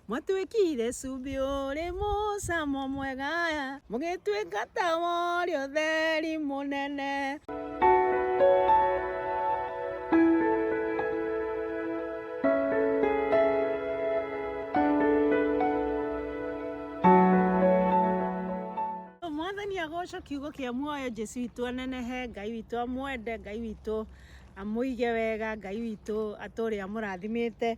Mwatwĩkĩire cumbĩ ũrĩ mũcamo mwega, mũgĩtwĩka tawa ũrĩ ũtheri mũnene. Mwathani agocwo kiugo kĩa muoyo, Jesu witũ anenehe, Ngai witũ amwende, Ngai witũ amũige wega, Ngai witũ atũre amũrathimĩte.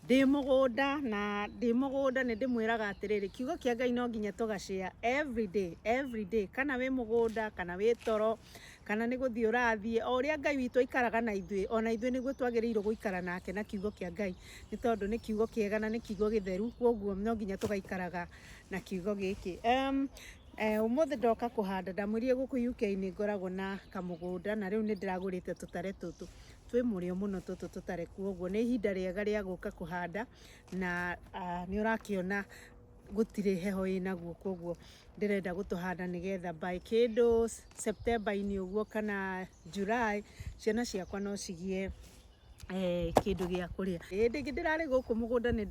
Ndĩ mũgũnda na ndĩ mũgũnda nĩ ndĩmwĩraga atĩrĩrĩ, kiugo kĩa Ngai no nginya tũgacĩa every day, every day. Kana wĩ mũgũnda, kana wĩ toro, kana nĩ gũthiĩ ũrathiĩ, o ũrĩa Ngai witũ aikaraga na ithuĩ, o na ithuĩ nĩguo twagĩrĩirwo gũikara nake na kiugo kĩa Ngai, nĩ tondũ nĩ kiugo kĩega na nĩ kiugo gĩtheru, kwoguo no nginya tũgaikaraga na kiugo gĩkĩ. Ũmũthĩ ndoka kũhanda, ndamwĩrire gũkũ UK nĩ ngoragwo na kamũgũnda na rĩu nĩ ndĩragũrĩte tũtare tũtũ. twĩ mũrĩo mũno tũtũ tũtarĩ kuoguo nĩ ihinda rĩega rĩa gũka kũhanda na uh, nĩ ũrakĩona gũtirĩ heho ĩnaguo koguo ndĩrenda gũtũhanda nĩgetha by kĩndũ September-inĩ ũguo kana July ciana ciakwa no cigĩe eh, kĩndũ gĩa kũrĩa hĩndĩ ĩngĩ ndĩrarĩ gũkũ mũgũnda nĩ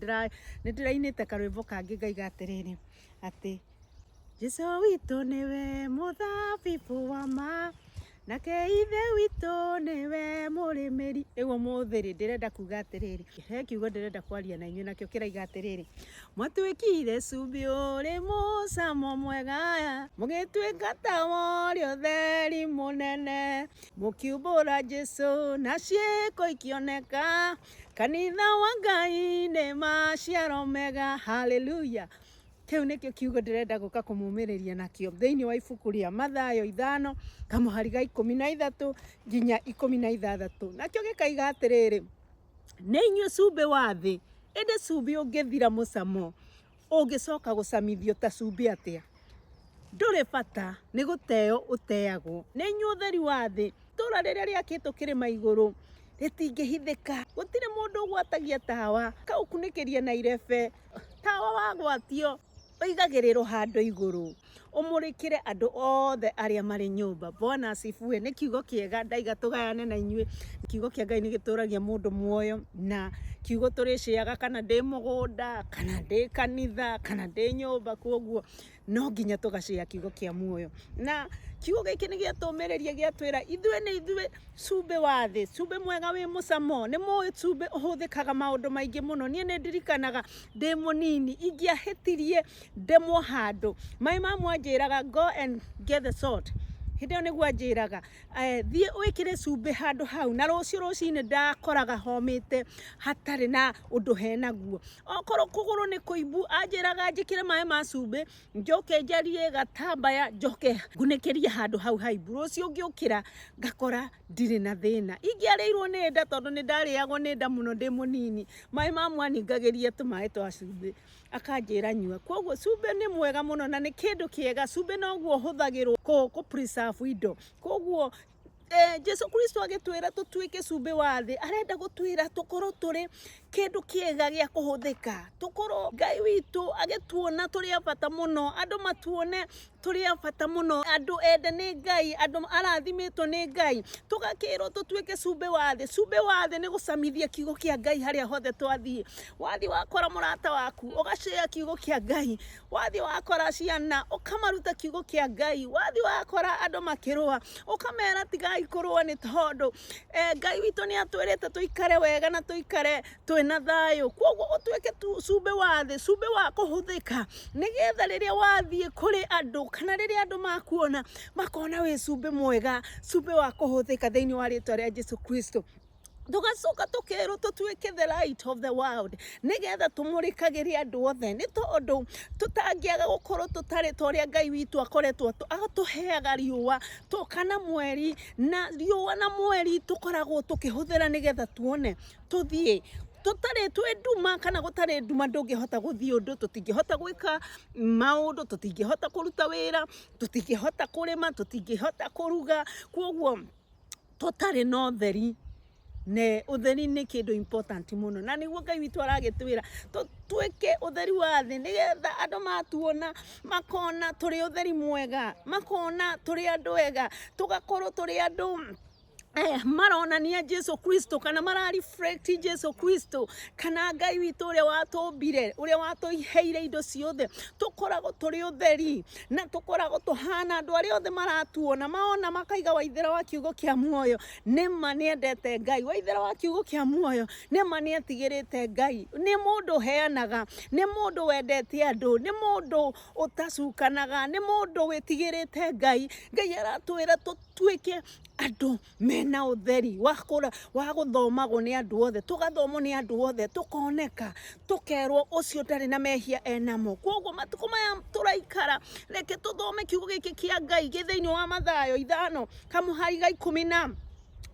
ndĩrainĩte karwĩmbo kangĩ ngaiga atĩrĩrĩ atĩ Jesu witũ nĩwe mũthabibũ wa ma nake ithe witũ nĩwe mũrĩmĩri rĩu ũmũthĩ rĩ ndĩrenda kuga atĩrĩrĩ he kiugo ndĩrenda kwaria na inyuĩ nakĩo kĩraiga atĩrĩrĩ mwatuĩkire cumbĩ ũrĩ mũcamo mwega mũgĩtuĩka tawa ũrĩ ũtheri mũnene mũkiumbũra Jesu na ciĩko ikĩoneka kanitha wa Ngai nĩ maciaro mega hallelujah Kĩu nĩkĩo kiugo ndĩrenda gũka kũmũmĩrĩria nakĩo thĩinĩ wa ibuku rĩa Mathayo ithano kamũhari ga ikũmi na ithatũ nginya ikũmi na ithathatũ nakĩo gĩkaiga atĩrĩrĩ nĩ inyuĩ cumbĩ wa thĩ ĩndĩ cumbĩ ũngĩthira mũcamo ũngĩcoka gũcamithio ta cumbĩ atĩa ndũrĩ bata nĩ gũteo ũteagwo nĩ inyuĩ ũtheri wa thĩ itũra rĩrĩa rĩakĩtwo kĩrĩma igũrũ rĩtingĩhithĩka gũtirĩ mũndũ ũgwatagia tawa kaũkunĩkĩria na irebe Tawa wa gwakio ũigagĩrĩrwo handũ igũrũ ũmũrĩkĩre andũ othe arĩa marĩ nyũmba bona acibue nĩ kiugo kĩega ndaiga tũgayane na inyuĩ kiugo kĩa ngai nĩ gĩtũragia mũndũ muoyo na kiugo tũrĩciaga kana ndĩ mũgũnda kana ndĩ kanitha kana ndĩ nyũmba kwoguo no nginya tũgacĩya kiugo kĩa muoyo na kiugo gĩkĩ nĩ gĩatũmĩrĩria gĩatwĩra ithuĩ nĩ ithuĩ cumbĩ wa thĩ cumbĩ mwega wĩ mũcamo nĩ mũĩ cumbĩ ũhũthĩkaga maũndũ maingĩ mũno niĩ nĩ ndirikanaga ndĩ mũnini ingĩahĩtirie ndemwo handũ maĩ mamu anjĩraga go and get the salt hĩndĩ ĩyo nĩguo anjĩraga eh, thiĩ wĩkĩre cumbĩ handũ hau na rũciũ rũcinĩ ndakoraga homĩte hatarĩ na ũndũ henaguo okorwo kũgũrũ nĩ kũimbu anjĩraga njĩkĩre maĩ ma cumbĩ njoke njarie gatambaya njoke ngunĩkĩrie handũ hau haimbu rũciũ ngĩũkĩra ngakora ndirĩ na thĩna ingĩarĩirwo nĩ nda tondũ nĩ ndarĩagwo nĩ nda mũno ndĩ mũnini maĩ ma mwaningagĩria tũmaĩ twa cumbĩ akanjĩra nyua koguo cumbĩ nĩ mwega mũno na nĩ kĩndũ kĩega cumbĩ noguo ũhũthagĩrwo kũ kũ preserve indo koguo eh, jesu kristo agĩtwĩra tũtuĩke cumbĩ wa thĩ arenda gũtwĩra tũkorwo tũrĩ kĩndũ kĩega gĩa kũhũthĩka tũkorwo ngai witũ agĩtuona tũrĩ a bata mũno andũ matuone tũrĩ a bata mũno andũ ende nĩ ngai andũ arathimĩtwo nĩ ngai tũgakĩrwo tũtuĩke cumbĩ wa thĩ cumbĩ wa thĩ nĩ gũcamithia kiugo kĩa ngai harĩa hothe twathiĩ wathiĩ wakora mũrata waku ũgacĩa kiugo kĩa ngai wathiĩ wakora ciana ũkamaruta kiugo kĩa ngai wathiĩ wakora andũ makĩrũa ũkamera tigai kũrũa nĩ tondũ eh, ngai witũ nĩ atwĩrĩte tũikare wega na tũikare twĩna thayũ kwoguo ũtuĩke tu- cumbĩ wa thĩ cumbĩ wa kũhũthĩka nĩgetha rĩrĩa wathiĩ kũrĩ andũ kana rĩrĩa andũ makuona makona wĩ cumbĩ mwega cumbĩ wa kũhũthĩka thĩinĩ wa rĩtwa rĩa jesu kristo tũgacoka tũkerwo tũtuĩke the light of the world nĩgetha tũmũrĩkagĩre andũ othe nĩ tondũ tũtangĩaga gũkorwo tũtarĩ ta ũrĩa ngai witũ akoretwo atũ- atũheaga riũa tũ- kana mweri na riũa na mweri tũkoragwo tũkĩhũthĩra nĩgetha tuone tũthiĩ tũtarĩ twĩ nduma kana gũtarĩ nduma ndũngĩhota gũthiĩ ũndũ tũtingĩhota gwĩka maũndũ tũtingĩhota kũruta wĩra tũtingĩhota kũrĩma tũtingĩhota kũruga kwoguo tũtarĩ na ũtheri ne utheri ni kindu important muno na niguo ngai witu aragitwira twike utheri wa thi nigetha andu matuona makona turi utheri mwega makona turi andu ega tugakorwo turi andu Eh, maronania Jesu Kristo kana mara reflect Jesu Kristo kana Ngai witå å rä a watå mbire å rä a watå iheire indo ciothe tå koragwo tå rä å theri na tũkoragwo tũhana andũ arĩa othe maratuona maona makaiga waithera wa kiugo kĩa muoyo nĩma nĩendete ngai waithera wa kiugo kĩa muoyo nĩma nĩetigĩrĩte ngai nĩ mũndũ ũheanaga nĩ mũndũ wendete andũ nĩ mũndũ ũtacukanaga nĩ mũndũ wĩtigĩrĩte ngai ngai aratwĩra tũtuĩke andũ mena utheri wa kura wa guthomagwo ni andu othe tugathomwo ni andu othe tukoneka tukerwo ucio ndari na mehia enamo koguo matuko maya turaikara reke tuthome kiugo giki kia ngai gi thiini wa mathayo ithano kamuhari ga ikumi na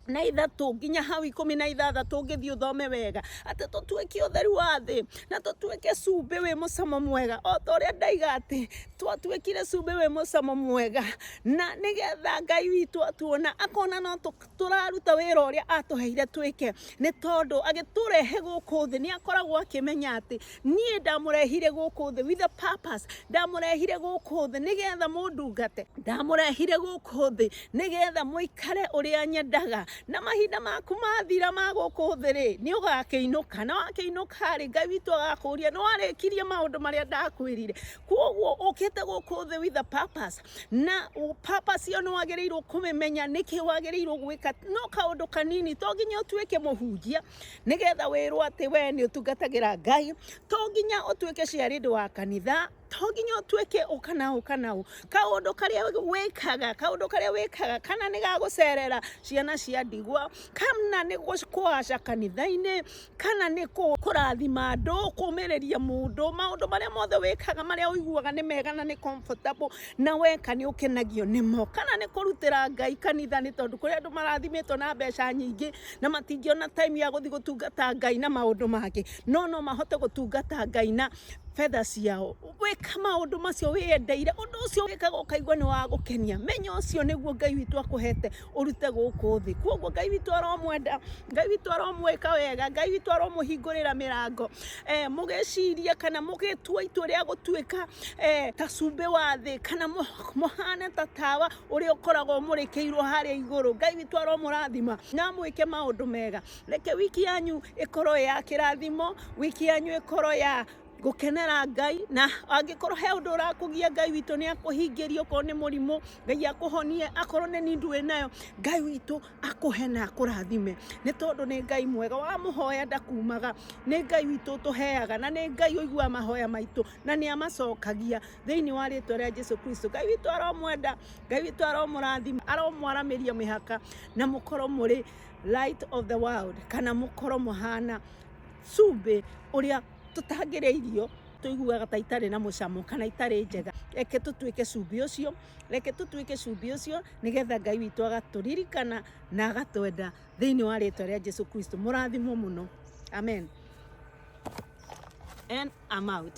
na ithatu nginya hau ikumi na ithathatu ngithii uthome wega ati tutuike utheri wa thi na tutuike cumbi wi mucamo mwega o ta uria ndaiga ati twatuĩkire cumbĩ wĩ mũcamo mwega na nĩgetha ngai witũ atuona akona no tũ- tũraruta wĩra ũrĩa atũheire twĩke nĩ tondũ agĩtũrehe gũkũ thĩ nĩ akoragwo akĩmenya atĩ niĩ ndamũrehire gũkũ thĩ with a purpose ndamũrehire gũkũ thĩ nĩgetha mũndungate ndamũrehire gũkũ thĩ nĩgetha mũikare ũrĩa nyendaga na mahinda maku mathira ma gũkũ thĩ rĩ nĩ ũgakĩinũka na wakĩinũka rĩ ngai witũ agakũria nĩ warĩkirie maũndũ marĩa ndakwĩrire koguo ukite guku thi with a purpose na u- purpose iyo ni wagiriirwo kumimenya niki wagiriirwo gwika no kaundu kanini to nginya utuike muhunjia nigetha wirwo ati we ni utungatagira ngai to nginya utuike ciarindi wa kanitha to nginya utuike ukana ukana u kaundu karia wikaga kaundu karia wikaga kana ni gagucerera ciana cia ndigwa kana ni gwaca kanitha-ini kana nĩ kũrathima andũ, kũmĩrĩria mũndũ, maũndũ marĩa mothe wĩkaga marĩa ũiguaga nĩ mega na nĩ comfortable na weka nĩ ũkenagio nĩmo, kana nĩ kũrutĩra Ngai kanitha nĩ tondũ kũrĩ andũ marathimĩtwo na mbeca nyingĩ na matingĩona time ya gũthiĩ gũtungata Ngai na maũndũ mangĩ, no no mahote gũtungata Ngai na fedha ciao. Gwĩka maũndũ macio wĩyendeire, ũndũ ũcio wĩkaga ũkaigua nĩ wa gũkenia, menya ũcio nĩguo Ngai witũ akũhete ũrute gũkũ thĩ kwoguo ngai witũ aromwenda ngai witũ aromwĩka wega ngai witũ aromũhingũrĩra mĩrango eh, mũgĩciria kana mũgĩtua itua rĩa gũtuĩka eh, ta cumbĩ wa thĩ kana mũ- mũhane ta tawa ũrĩa ũkoragwo mũrĩkĩirwo harĩa igũrũ ngai witũ aromũrathima na amwĩke maũndũ mega reke wiki yanyu ĩkorwo ya kĩrathimo wiki yanyu ĩkorwo ya gũkenera ngai na angĩkorwo he ũndũ ũrakũgia ngai witũ nĩ akũhingĩrie okorwo nĩ mũrimũ ngai akũhonie akorwo nĩ nindu wĩ nayo ngai witũ akũhe na akũrathime nĩ tondũ nĩ ngai mwega wamũhoya ndakumaga nĩ ngai witũ ũtũheaga na nĩ ngai ũiguaga mahoya maitũ na nĩ amacokagia thĩinĩ wa rĩtwa rĩa jesu kristo ngai witũ aromwenda ngai witũ aromũrathima aromwaramĩria mĩhaka na mũkorwo mũrĩ light of the world kana mũkorwo mũhana cumbĩ ũrĩa tũtangĩrĩa irio tũiguaga ta itarĩ na mũcamo kana itarĩ njega reke tũtuĩke cumbĩ ũcio reke tũtuĩke cumbĩ ũcio nĩgetha ngai witũ agatũririkana na agatwenda thĩinĩ wa rĩtwa rĩa jesu kristo mũrathimwo mũno amen and I'm out